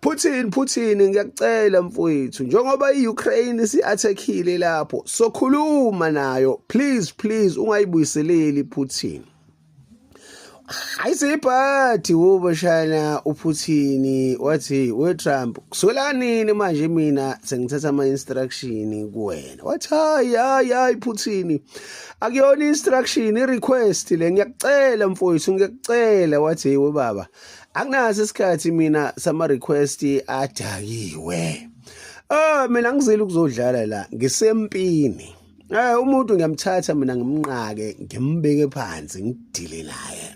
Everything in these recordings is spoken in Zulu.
Putin Putin ngiyakucela mfowethu njengoba iUkraine isiattackile lapho sokhuluma nayo please please ungayibuyiseleli Putin ayisebhathi wobashana uPutin wathi we Trump kusolanini manje mina sengithatha ama instruction kuwena wathi hayi hayi hayi Putin akuyona instruction i request le ngiyakucela mfowethu ngiyakucela wathi we baba anginaso isikhathi mina sama request adakiwe ah mina ngizile ukuzodlala la ngisempini eh umuntu ngiyamthatha mina ngimnqake ngimbeke phansi ngidile naye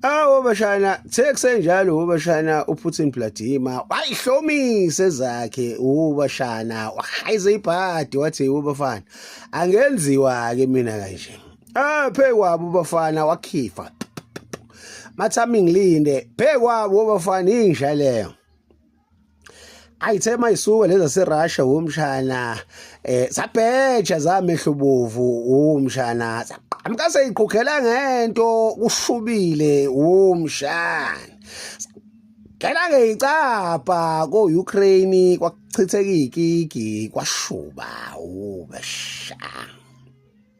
awu bashana sekusenjalo ubashana uPutin Vladimir wayihlomise zakhe ubashana wahayize ibhadi wathi ubafana angenziwa ke mina kanje ah phe kwabo bafana wakhifa mathami ngilinde phe kwabo bafana inja leyo ayithe mayisuke leza serussia womshana eh sabheja zamehlubovu womshana saqhamuka seyiqhukhela ngento kushubile womshana Ngena ke icapha ko-Ukraine kwachitheka igigi kwashuba ubesha.